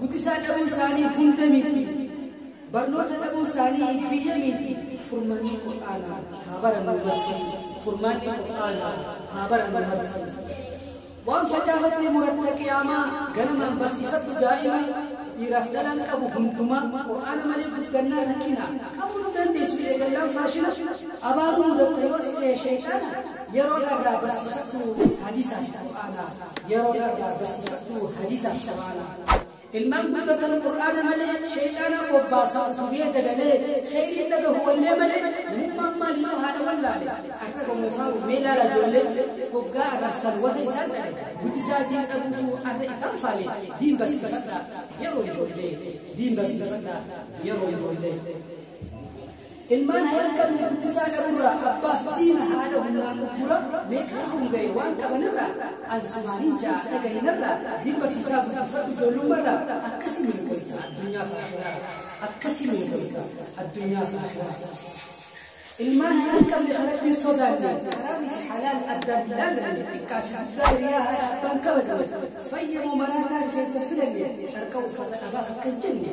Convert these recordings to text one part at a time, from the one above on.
Guddisaa dhabuu isaanii hunda miti. Barnoota dhabuu isaanii biyya miti. Furmaanni Qur'aanaa haa barannu marti. Furmaanni Qur'aanaa haa barannu marti. Waan facaafattee muratta qiyaamaa ganamaan barsiifadhu daa'ima dhiiraaf dhalaan qabu hundumaa Qur'aana malee guddannaa rakkina qabuu hin dandeessu eegallaan faashina abaaruu mudatta yoos ta'e sheexaana yeroo dharraa barsiifadhu hadiisaas Qur'aanaa. yeroo irraa barsiifadhu hadiisa shabaana ilmaan guddatan qur'aana malee sheeyxaanaa bobbaasaa tufee dagalee kheyriin dhagahu wallee malee namummaan maal yoo haadha wallaale arraba moofaa mee laala ijoollee hoggaa arrabsan warra isaan dhabe guddisaa isiin dhabuutu arra isaan faale diin barsiifadha yeroo ijoollee diin barsiifadha yeroo ijoollee Ilmaan hayan qabne guddisaa dhabuurraa abbaaf diina haadha humnaan uggura meeqaa honga'e waan qabanirraa an sumaanin ja'a dhagahi narraa bil barsiisaa guddifadhu ijoollummarraa akkasi nuu goyta addunyaaf akhiraa akkasi nuu goyta addunyaaf akhiraa ilmaan hayan qabne ka rabbiin sodaanne haraamii fi halaal addaan hin laallanne xiqqaa fi guddaa hiriyaa haadha abbaan kabajne fayyamoo maraataa rifeensa filanne carqa uffata dhabaaf akka hin jenne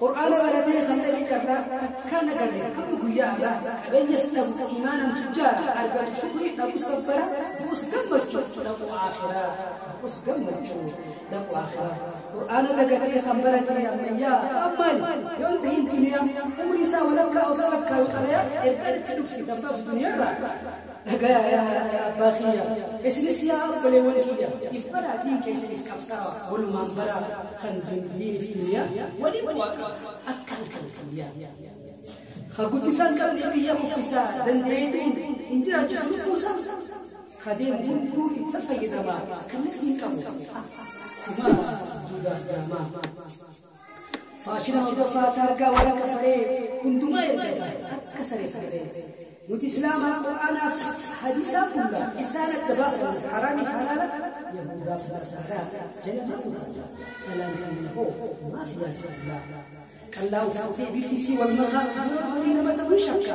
Qur'aana baratee kan dhabe carraa takkaan agarre hamma guyyaa har'aa qabeenyas dhabu iimaanan tujjaara argatu shukrii dhabus sabbara du'us gammachuu dhaqu aakhiraa du'us gammachuu dhaqu aakhiraa Qur'aana dagatee kan barate ammayyaa ammaan yoon tahin duniyaa umrii isaa walakkaa osoo lakkaa'u xalayaa ergaan itti dhufti dabbaaf duniyaarraa Dhagayaa yaa haadha yaa abbaa kiyya isinis yaa obboleewwan kiyya if baraa diin keessaniif qabsaawa walumaan baraa kan diinif duniyaa waliin bu'aa qaba akka halkan kan yaa ka guddisaan qabdee biyya kuffisaa dandeetuun hin jiraachisu lubbuusaa ka deemu hunduu isa fayyadamaa kallattiin qabu akkuma duudaaf jaamaa Faashina hordofaa taargaa warra kafaree hundumaa ergata akka saree saree. Nuti Islaamaa Qur'aanaaf hadiisaaf fulla isaan adda baafanna haraamiif halaala Yahuudaaf Nasaaraa jala ta'uu qabna. Dhalaan keenya hoo maaf yaati qallaa? Qallaa uffattee bifti isii wal makaa yeroo horii nama ta'uu shakka.